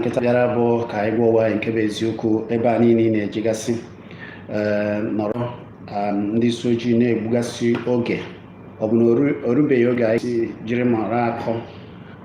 nkịta bịara bụ ka anyị gwa onwe anyị nke bụ eziokwu ebe a niile ị na-ejegasị eh, nọrọ um, ndị isi ojii na-egbugasị oge ọ bụ na o rubeghị oge anyị si jiri mara akọ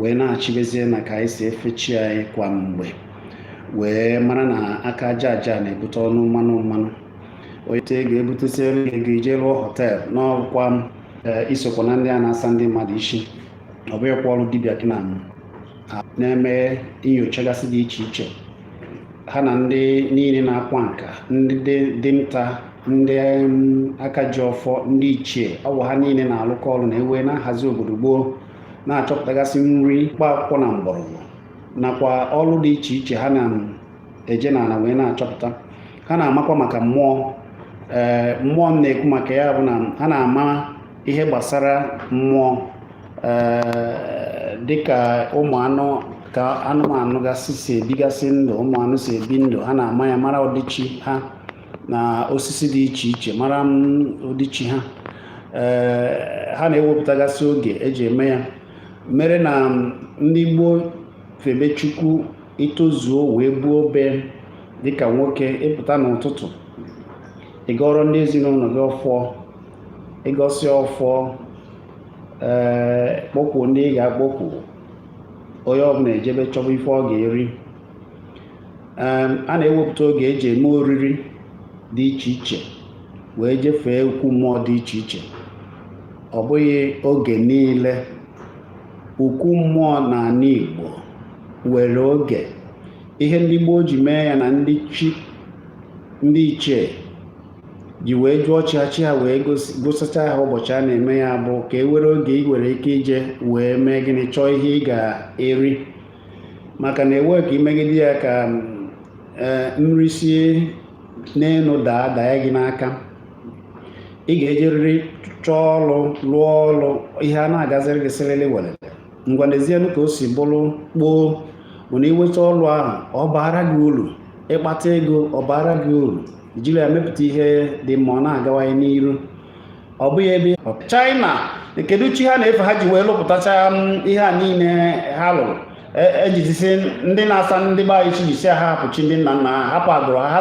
wee naachibezie na ka anyị si efe chi anyị kwa mgbe wee mara na aka aja aja na-ebute ọnụ mmanụ mmanụ onye te ga-ebutesi elu ego ije lụọ hotel n'ọkwa eh, i sokwa na ndị a na-asa ndị mmadụ isi ọ bụghịkwa ọrụ dibịa gị na na-eme nyochagasị dị iche iche ha na ndị niile na-akwa nka ndị dinta ndị aka ji ọfọ ndị ichie ọ wụ ha niile na-alụkọ ọrụ na ewe na-ahazi obodo gboo na-achọpụtagasị nri mkpa akwụkwọ na mgbọrọgwụ nakwa ọrụ dị iche iche ha na-eje n'ala wee na-achọpụta ha na-amakwa maka mmụọ ee eh, mmụọ m na-ekwu maka ya bụ na ha na-ama ihe gbasara mmụọ dịka ụmụ anụ ka anụmanụ gasị si ebigasị ndụ ụmụ anụ si ebi ndụ ha na-ama ya mara ọdịiche ha na osisi dị iche iche mara ọdịiche ha ha na-ewepụtagasị oge e ji eme ya mere na ndị gboo febe chukwu i tozuo wee buo obi dịka nwoke ị pụta n'ụtụtụ ị gọọrọ ndị ezinụlọ gị ọfọ ị gọsịa ọfọ ị kpọkuo ndị ị ga-akpọku onye ọbụla ejebe chọba ife ọ ga-eri a na-ewepụta oge e ji eme oriri dị iche iche wee jefee ukwu mmụọ dị iche iche ọ bụghị oge niile ukwu mmụọ na ala Igbo nwere oge ihe ndị gboo ji mee ya na ndị chi ndị ichie ji wee jụọ chi ha chi ha wee gosicha ha ụbọchị a na-eme ya bụ ka e nwere oge ị nwere ike ije wee mee gịnị chọọ ihe ị ga-eri maka na enweghị ka i megide ya ka e, nri si n'elu daa daa gị n'aka ị ga-ejerịrị chọọ ọrụ lụọ ọrụ ihe a na-agaziri gị siriri werere ngwa n'ezienụ ka o si bụrụ kpoo bụ na i nweta ọrụ ahụ ọ baara gị uru ị kpata ego ọ baara gị uru jiri ya mepụta ihe dị mma ọ na-agawanye n'iru ọ bụghị ebe China kedu chi ha na-efe ha ji wee lụpụtacha mm, ihe a niile ha lụrụ ejizisi e ndị na-asa ndị be anyị isi jisi ha hapụ chi ndị nna nna ha hapụ agbụrụ ha ha